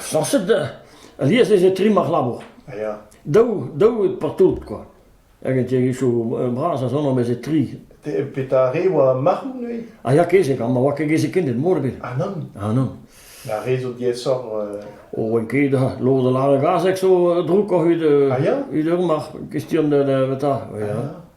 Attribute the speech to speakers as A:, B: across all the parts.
A: Sañset alies ez eo trim ar labour. Daou daou evit partout kwa. Hag an tiegezhioù bras a son am eus e tri. Petra a re oa marc'hoù neuze? A ya kezeg, ha ma oa ket gezekended mor ebet. Ah nann? Ah nann. Ar re zo diaesoc'h... O, oa ket ha. Lod a lâr e gazeg zo droukoc'h evit... Ah ya? Evit ur marc'h. Kestion da... da... ta. Ya.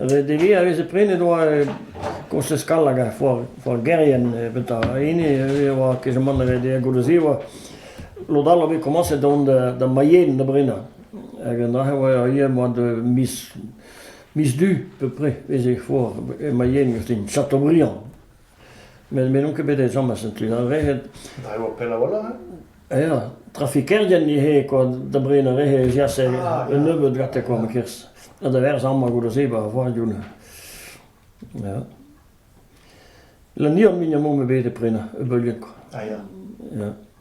A: Ret eo a veze prenet oa koñchez kall hag ar foargerien evit ar hini e oa kezemant ret eo goude se oa lod all a voe komañset da vont da Mayenne da brenañ hag an dra-se oa ivez moa de miz miz du à peu près ez eo foar e Mayenne gastañ Chateaubriand. Met me n'on ket bet ezhomm a sent lennareed. A eo pell a-walc'h, hein? Ya, trafikerien ivez, kwa, da bred ar re ez yas un nebeud gante kwa, ma kerzh. Ha da verzañ ma goude-se ba voarioù neuze. Ya. Lanier mignon-mañ eo bet e prenañ, e beuliad kwa. Ah ya. Ya.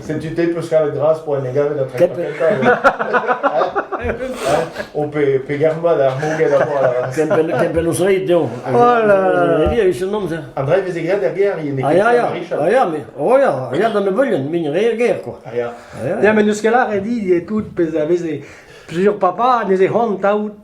A: Setu te 'peus kavet gras po en e gavet a treiñ O pe pe germat ar moged a boa Kempenn o zreid dezho Voilà a un amzer An dreiñ veze graet er gêr yen Ah ya ya Ah ya mais oh ya ah ya d'an nebeulien min re er gêr quoi Ah ya Ya mais n'eus ket lâret dit e tout pezh a veze plusieurs papas ne se c'hoant taout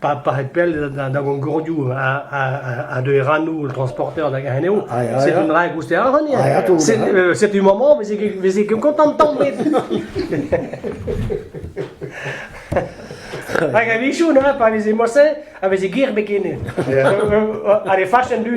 A: pa pa c'het pell da Goncordioù ha da Erranoù an transporteur hag anezho, setu un dra goustet ac'hane. Setu maman, veze ket kontant tamet. Hag a-vichoù, neuze, pa veze morse, a veze gir be kene. Ha le fach en du,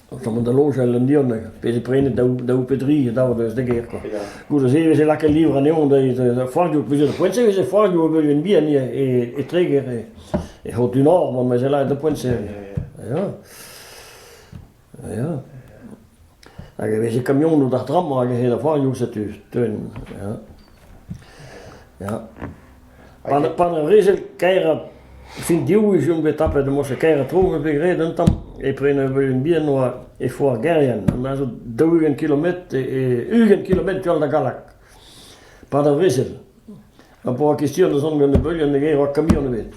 A: O chom da loñjal an Dion, pezh e prene daou pe dri a dav deus da gêr kwa. Goude-se e veze lakaet livr anezhoñ da foarioù, plus de poent-se e veze foarioù beuzien bihan e, e Treger, e, e Haute-du-Nord, man meze lakaet da poent-se. Ya. Ya. Hag e veze kamionoù d'ar tram hag e se da foarioù setu, teun, ya. Ya. Pa ne vije kaerañ fin-div wech on bet tapet emañ o kaerañ tro me bet graet un tamm e prenañ bihan oa e foar Gerien me a zo daou-ugent kilometr ugent kilometr tu all da Gallag pad ar vrezel ha pa oa kestion da zont gant e beulioù ne gaero kamion ebet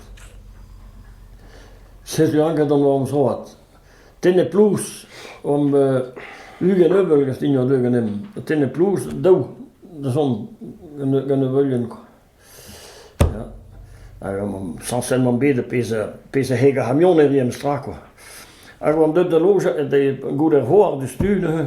A: setu anket an amsroad. Tenne-plouz omp ugent euvel gant hini hor deus ganeomp. Tenne-plouz daou dazont gant ur veulienn kwa. Ya, hag omp sañset omp bet e pezh pezh a heg ar c'hamionerien 'm stra kwa. Hag oant deut da lojañ goude ar c'hoar diouzhtu neuze.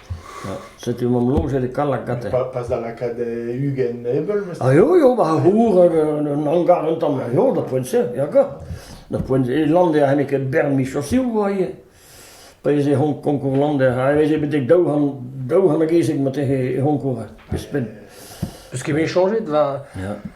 A: Setu omp lojet e Kalakate. Pas da lakaat ugent ebeul, meus. Ah, eo, eo, bah, c'hour hag un hangar un tamm, eo, da poent-se, ya ka. Da poent e lander n'eo ket bern miz chosiou, oa ivez. Pa ez eo konkour lander, ha ez eo betek daou c'hant, daou c'hant hag ezek ma tehe e c'honkour, e Spen. Eus ket bet chañjet, va... Ya.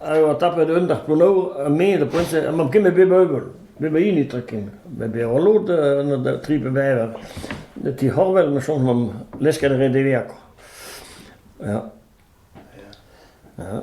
A: A oa tapet eun dac'h plonnaour ha me da poent-se ha mab ken met bep eubl. Bep ma hini tra ken. Met bezañ o lod, anat tri pe bevar. Ti C'horvel ma soñj mam lesket a rae deveakoc'h. Ya. Ya.